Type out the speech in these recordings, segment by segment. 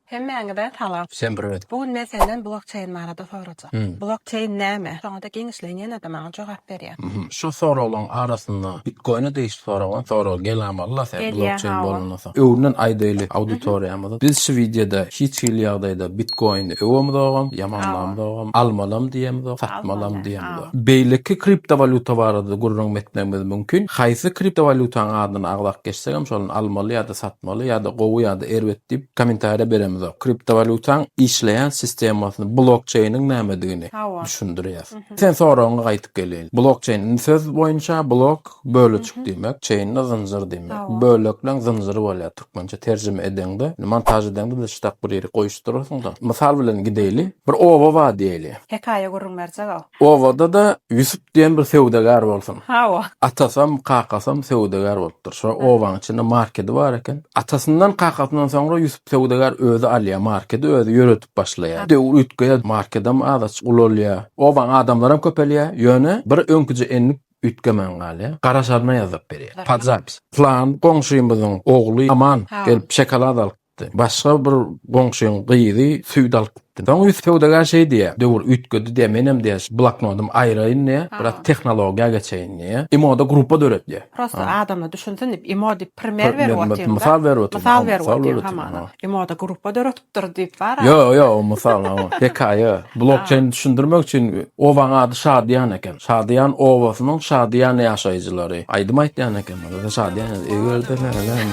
Hemmäňize salam. Sen priwet. Bu gün men senden blokçeýn barada sorajak. Blokçeýn näme? Soňada giňişleýin ýene-de maňa jogap berýä. Şu soraglaň arasynda bitkoýna degişli soragyň soragy gelamalla sen blokçeýn bolandan soň. Öňünden aýdaýly auditoriýamyza. Biz şu wideoda hiç hili ýagdaýda bitkoýny öwemzogam, ýamanlamzogam, almalam diýemzok, satmalam diýemzok. Beýleki kriptowalýuta barada gürrüňmi etmegimiz mümkin? Haýsy kriptowalýutaň adyny agzap geçsegem şony almaly ýa-da satmaly ýa-da gowy ýa-da erbet diýip kommentariýa beremizok. Kriptowalýutaň işleýän sistemasyny, blokçeýniň nämedigini Hawa. düşündirýäs. Sen soragyňa gaýtyp geleýin. Blokçeýn indi söz boýunça blok, bölejik diýmek, çeýn-de zynjyr diýmek. Hawa. Bölekleň zynjyry bolýar. Türkmençe terjime edeňde, montaž edeňde de ştak bir ýerik goýuşdyrarsyň-da. Mysal bilen gideýli. Bir oba bar diýeýli. Hekaýa gürrüň berjeg-ow. Obada-da Ýusup diýen bir söwdagär bolsun. Hawa. Atasam, kakasam söwdagär bolupdyr. Şo obanyň içinde markedi bar eken. Atasyndan, kakasyndan soňra Ýusup söwdagär özi alýar markedi, özi ýöredip başlaýar. Döwür üýtgeýär, markedem az-aç ulalýar. Obaň adamlaram köpelýär. Ýöne bir öňküje endik Üýtgemän galýar. Garaşaryna ýazyp berýär. Podzapis. Pylan goňşymyzyň ogly Aman gelip şokolad alyp gitdi. Başga bir goňşyň gyzy süýt alyp gitdi. Soň üýtgi söwdagär şeý diýýär, Döwür üýtgedi diýýär, menem diýýär şu bloknodymy aýraýyn diýýär, biraz tehnologiýa geçeýin diýýär. Imo-da gruppa döret diýýär. Prosta adamlar düşünsin diýip imo diýip primer berip otyryn-da. Mysal berip otyryn. Mysal berip otyryn hamana. Imo-da gruppa döret. bolupdyr diýip bara. Ýo, ýo, mysal ha, hekaýa. Blokçeýni düşündirmek üçin obaň ady Şadyýan eken. Şadyýan obasynyň Şadyýan ýaşaýjylary aýdym aýtýan ekenler. Ýa Şadyýan ýa Eger-de näleem.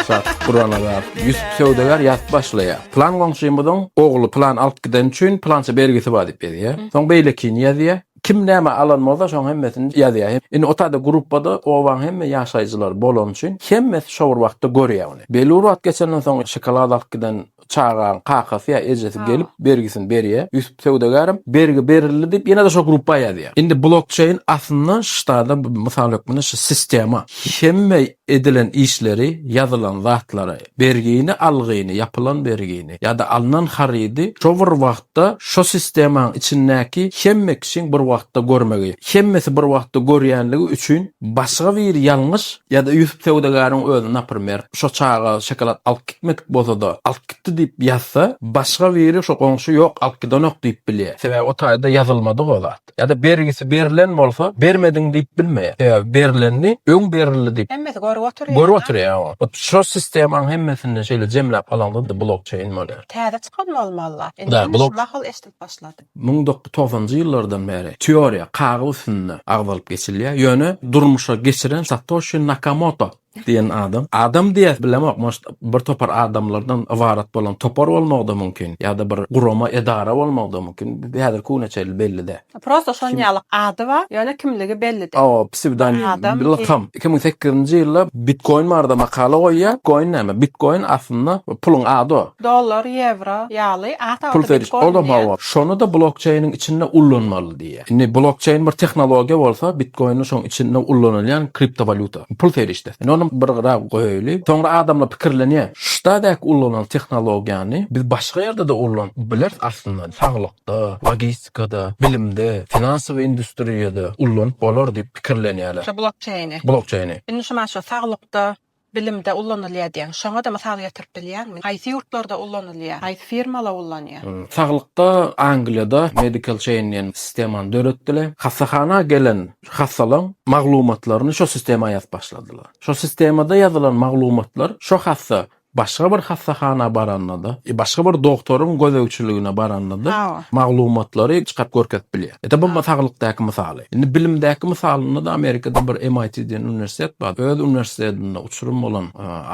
Şadyýan gurana bar. Ýusup söwdagär ýazyp başlaýar. Plan goňşymyzyň ogly plan alyp gideni üçin plança bergisi bar diýip ýazýar. Soň beýlekini ýazýar. Kim näme alan bolsa şoň hemmesini ýazýar. Indi otada gruppada obaň hemme ýaşaýjylary bolany üçin hemmesi şo bir wagtda görýär ony. Belli bir wagt geçenden soň şokolad alyp giden çagaň kakasy ýa ejesi gelip bergisini berýär. Ýusup söwdagärem bergi berildi diýip ýene-de şo grupba ýazýar. Indi blokçeýn aslynda ştada mysal hökmünde şu sistema hemme edilen işleri, ýazylan zatlary, Bergini, algyny, ýapylan bergini ýa-da alnan harydy şo bir wagtda şo sistemaň içindäki hemme kişiň bir wagtda görmegi, hemmesi bir wagtda görýänligi üçin başga bir ýalňyş ýa-da Ýusup söwdagäriň özi, naprimer, şo çaga şokolad alyp gitmedik bolsa-da, alyp gitdi diýip ýazsa, başga biri şo goňşy ýok, alyp gidenok diýip bilýär. Sebäbi o taýda ýazylmadyk o zat. ýazylypdyr. Ýa-da bergisi berlen bolsa, bermediň diýip bilmeýär. Sebäbi berlendi, öň berildi diýip. Hemmesi görüp oturýar. Görüp oturýar. Hut şo sistemaň hemmesinde şeýle jemläp alaňda-da blockchain bolýar. Täze çykan bolmalyla. Indi hemme şu mahaly eşidip başlady. Müň dokuz togsanjy ýyllardan bäri teoriýa, kagyz üstünde agzalyp geçilýär. Ýöne durmuşa geçiren Satoshi Nakamoto. Diýen adam. Adam diýäs bilemok, может, bir topar adamlardan ybarat bolan topar bolmagy-da mümkin, ýa-da bir gurama, edara bolmagy-da mümkin, häzirki güne çenli belli däl. Prosta şon ýaly ady bar, ýöne kimligi belli däl. Hawa, psewdonim, bir lakam. Iki müň sekizinji ýylda Bitkoin barada makala goýýar. Bitkoin näme? Bitkoin aslynda puluň ady. Dollar, ýewro ýaly ata-ata bitkoin diýýär. Pul serişdesi, ol-da hawa. Şony-da blokçeýniň içinde ullanmaly diýýär. Indi blokçeýn bir tehnologiýa bolsa, bitkoýn şoň içinde ullanylýan kriptowalýuta, pul serişdesi. Indi ony bir gyra goýaýly. Soňra adamlar pikirlenýär, şudaýdaky ullanan tehnologiýany biz başga ýerde-de ullan bileris aslynda, saglykda, logistikada, bilimde, finansowy industriýada ullanyp bolar diýip pikirlenýärler. Şu blokçeýni. Blokçeýni. Indi şumaşa saglykda, Bilimde ulanylýar diýýän. Şoňa-da mysal getirip bilýäňmi? Haýsy ýurtlarda ulanylýar? Haýsy firmalar ulanýar? Saglykda Angliýada Medical Chain diýen sistemany döretdiler. Hassahana gelen hassalaň maglumatlaryny şo sistema ýazyp başladylar. Şo sistemada ýazylan maglumatlar şo hassa başga bir hassahana baranda-da, başga bir dogtoryň gözegçiligine baranda-da maglumatlary çykaryp görkezip bilýär. Ede bu saglykdaky mysaly. Indi bilimdäki mysalynda-da Amerikada bir MIT diýen uniwersitet bar. Öz uniwersitetinde uçurym bolan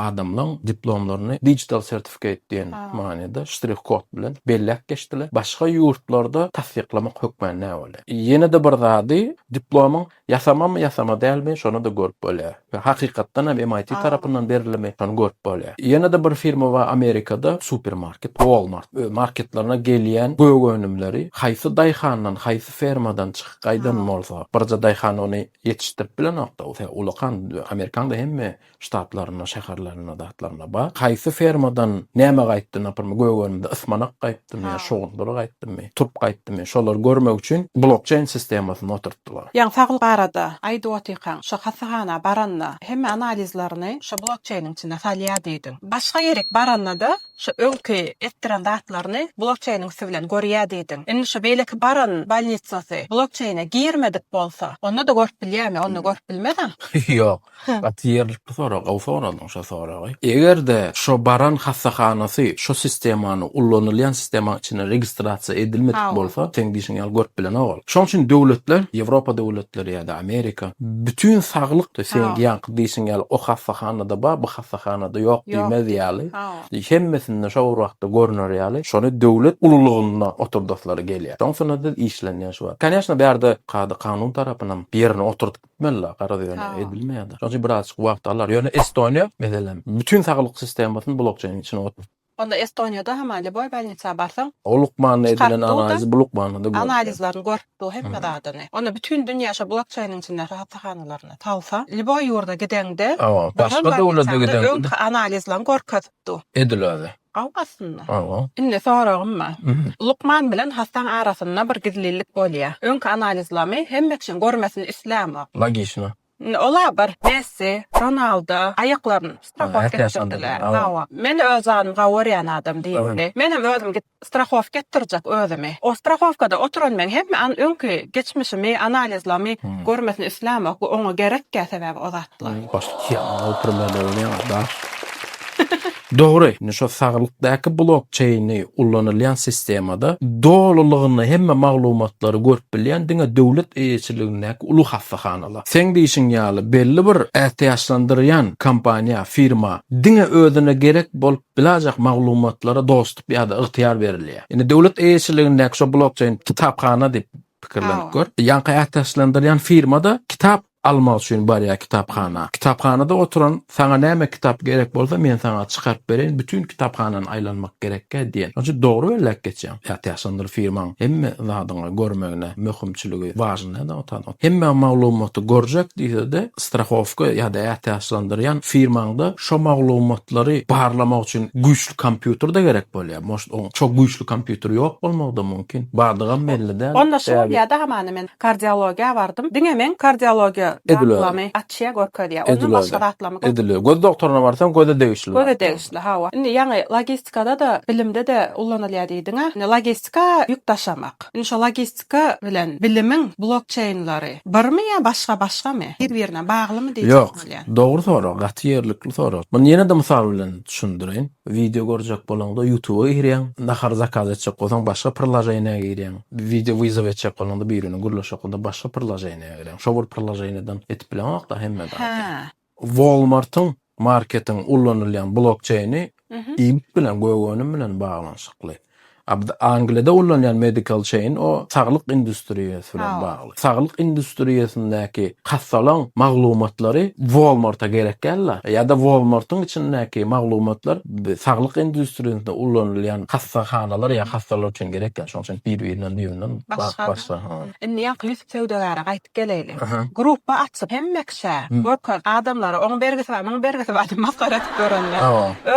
adamlaň diplomlaryny digital certificate diýen manyda ştrih kod bilen belläp geçdiler. Başga ýurtlarda tassyklamak hökmän näbolýar. Ýene-de bir zady, diplomyň ýasamamy ýasama dälmi, şony-da görüp bolýar. We hakykatdan hem MIT tarapyndan berilimi şony görüp bolýar. Ýene-de bir firma bar Amerikada supermarket Walmart öz marketlerine gelýän gök önümleri haýsy daýhandan haýsy fermadan çykyp gaýdan bolsa birje daýhan ony ýetişdirip bilenokda ol sebäp ulakan Amerikanyň hemme ştatlarynda şäherlerinde zatlarynda bar haýsy fermadan näme gaýtdy naprimr gök önümde ysmanak gaýtdy Ýa şowundyr gaýtdymy, turup gaýtdymy, şolary görmek üçin blokçeýn sistemasyny oturtdylar. Ýaňy saglyk barada aýdyp otyrkaň, şo hassahana baranda hemme analizlerini şo blokçeýniň içinde salýar diýdiň. Başga ýerik baranda-da şo öňki etdiren zatlaryny blokçeýniň üsti bilen görýär diýdiň. Indi şo beýleki baran bolnitsasy blokçeýne girmedik bolsa, onda-da görüp bilýärmi? Onda görüp bilmez-ä? Ýok. Gaty ýerlikli sorag, gowy soradyň şo soragy. Eger-de şo baran hassahanasy şo sistemany, ullanylýan sistemaň içine registrasiýa edilmedik bolsa, seň diýşiň ýaly görüp bilenok ol. Şoň üçin döwletler, Ýewropa döwletleri ýa-da Amerika bütin saglyk, seňki ýaňky diýşiň ýaly o hassahanada bar, bu hassahanada ýok diýmez ýaly, hemmesinde şo bir wagtda görner ýaly, şony döwlet ululygynda oturdaslary gelýär. Şoň üstünde-de işlenýär şu wagt. Kanyýeşna bärde kada-kanun tarapynam ýerine oturdyp, Etmeli-la, garaz ýöne edilmeýär-de. Şonuň üçin birazajyk wagt alar. Ýöne Estoniýa, meselem, bütin saglyk sistemasyny blokçeýniň içine oturtdy. Onda Estoniýada hama lýuboý bolnisa barsaň, O lukmanda edilen analizi bu lukmanda-da görüpdi. Analizlerini görüpdi o hemme zadyny. Onda bütin dünýä şo blokçeýniň içinde hassahanalaryna salsa, lýuboý ýurda gideňde, Hawa, başga döwlete gideňde. Öňki analizlerini görkezipdi. Ediler-de. Gawy aslynda. Hawa. Indi soragym bar. Lukman bilen hassaň arasynda bir gizlilik bolýa. Öňki analizlamy hemme kişiň görmesini islämok. Logişno. Indi ola bir Messi, Ronaldo aýaklaryn strahotka etdirdiler. Hawa. Men öz zanym gawy görýän adam diýipli. Menem özüm git strahotka etdirjek özümi. O strahowkada oturan men hemme an öňki geçmişimi analizlamy görmesini islämok. Bu oňa gerekkä sebäbi o zatlar. Başda çyýaňok, premýerde bolýaňok daş. Dogry, indi şo saglykdaky blokçeýni ullanylýan sistemada dolulygyna hemme maglumatlary görüp bilýän diňe döwlet eýeçiligindäki uly hassahanalar. Seň diýşiň ýaly, belli bir ätiýaçlandyrýan kompaniýa, firma diňe özüne gerek bolup bilajak maglumatlara dostup ýa-da ygtyýar berilýär. Indi döwlet eýeçiligindäki şo blokçeýn kitaphana diýip pikirlenip gör. Ýaňky ätiýaçlandyrýan firma-da kitap almak üçin barýar kitaphana. Kitaphanada oturan, Saňa näme kitap gerek bolsa, men saňa çykaryp bereýin, bütin kitaphanany aýlanmak gerekkä diýen. Şonuň üçin dogry belläp geçýäň. Ýa täşandyr firmaň hemme zadyňy görmegine möhümçiligi wažn nädä otan. Hemme maglumaty görjek diýsede, strahowka ýa-da ätäşlandyrýan firmaňda şo maglumatlary barlamak üçin güýçli kompýuter-de gerek bolýar. Moşt oň şo güýçli kompýuteri ýok bolmagy-da mümkin. Bardygam belli däl. Onda şol ýa-da hamana men Kardiologiýa bardym. Diňe men kardiologiýa zatlamy açýa görkezýä. Ondan başga zatlamy görkezýä. Edil öý. Göz doktoryna barsaň göze degişli zat. Göze degişli hawa. Indi ýaňy logistikada-da bilimde-de ullanylýa diýdiňä. Indi logistika ýük daşamak. Indi şo logistika bilen bilimiň blokçeýnlary birmi ýa başga başgamy? Bir birine baglymy diýjek bolýan. Ýok. Dogry sorag. Gaty ýerlikli sorag. Muny ýene-de mysal bilen düşündireýin. Wideo görjek bolaňda ýutuba girýäň. Nahar zakaz etjek bolsaň başga prilaženiýa girýäň. Wideo wyzow etjek bolanda biriniň gürleşi hakynda başga priloženiýa gireň. Şo bir priloženiýadan etip bileňokda hemme zady. Walmartyň, marketiň, ullanylýan blokçeýni ibit bilen, gök önüm bilen baglanyşykly. Angliýada ullanylýan medical chain o saglyk industriýasy bilen bagly. Saglyk industriýasyndaky hassalaň maglumatlary Walmart-a gerek däl-la. Ýa-da Walmart-yň içindäki maglumatlar saglyk industriýasynda ulanylýan hassahanalar ýa hassalar üçin gerek däl. Şonuň üçin bir-birinden düýbünden başga. Indi ýaňky Ýusup söwdagäre gaýdyp geleýli. Grupba açyp hemme kişä görkez. Adamlara oň bergisi bar, muň bergisi bar diýip masgara edip ýörenler.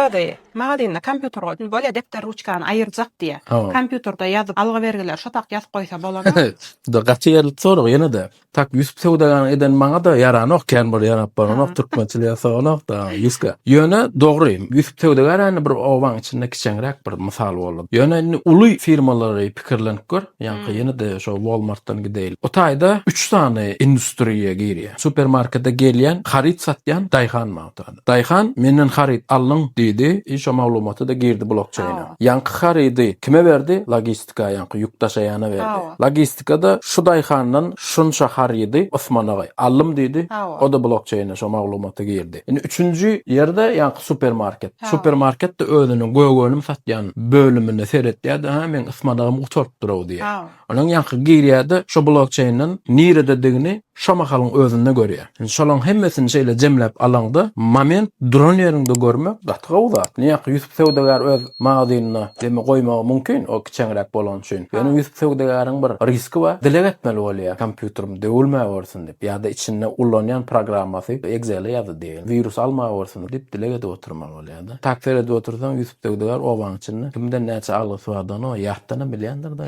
Özi. Magazinde kompýuter bolsun, bolýa depder ruçkany aýyrjak diýýä. Kompýuterde ýazyp, algy-bergileri şo tak ýazyp goýsa bolany. Juda gaty ýerlik sorag ýene-de. Tak Ýusup söwdagäriň edeni maňa-da ýaranok, kän bir ýarap baranok, türkmençilik ýasaganok da Ýuska. Ýöne dogry, Ýusup söwdagär indi bir obaň içinde kiçeňräk bir mysal boldy. Ýöne indi uly firmalary pikirlenip gör, ýaňky ýene-de şo Walmartdan gideýli. O taýda üç sany industriýa girýä. Supermarkete gelýän, haryt satýan, daýhan maňa oturan. Daýhan, menden haryt alnyň, diýdi, i şo maglumaty-da girdi blokçeýne. Ýaňky harydy kime berdi? Logistika, ýaňky ýük daşaýana berdi. Logistika-da şu daýhandan şunça harydy Osman agaý, alnym diýdi, o-da blokçeýne şo maglumaty girdi. Indi üçünji ýerde ýaňky supermarket. Supermarket-de özüniň gök önüm satýan bölümine seretýär-de, ha, meň Osman agam gutarypdyr-ow diýýär. Olaň ýaňky girýärde şo blokçeýnden nirededigini şo mahalyň özünde görýär. Indi şolaň hemmesini şeýle jemläp alaňda moment duran ýeriňde görmek gaty gowy zat. Ine ýaňky Ýusup söwdagär öz magazynyna demi goýmagy mumkin o kiçeňräk bolany üçin. Ýöne Ýusup söwdagäriň bir riski bar. Dileg etmeli bolýar kompýuterim döwülmäwersin diýip ýa-da içinde ullanýan programmasy, Excel-i ýa-da diýeýin, wirus almawersin diýip dileg edip oturmaly bolýar. bolýar-da. Tak seredip otursaň, Ýusup söwdagär obanyň içinde kimden näçe algysy bardygyny o ýatdanam bilýändir-de.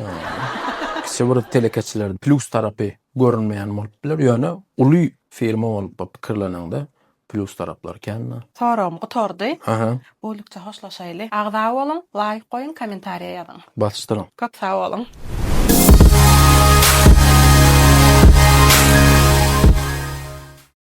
Kiçi bir telekeçilerde plýus tarapy görünmeýän bolup biler, ýöne uly firma bolup pikirleneňde plýus taraplary kän-de. Soragym gutardy. Bolykça hoşlaşaýly. Agza boluň, laýk goýuň, kommentariýa ýazyň. Basyşdyryň. Köp sag boluň.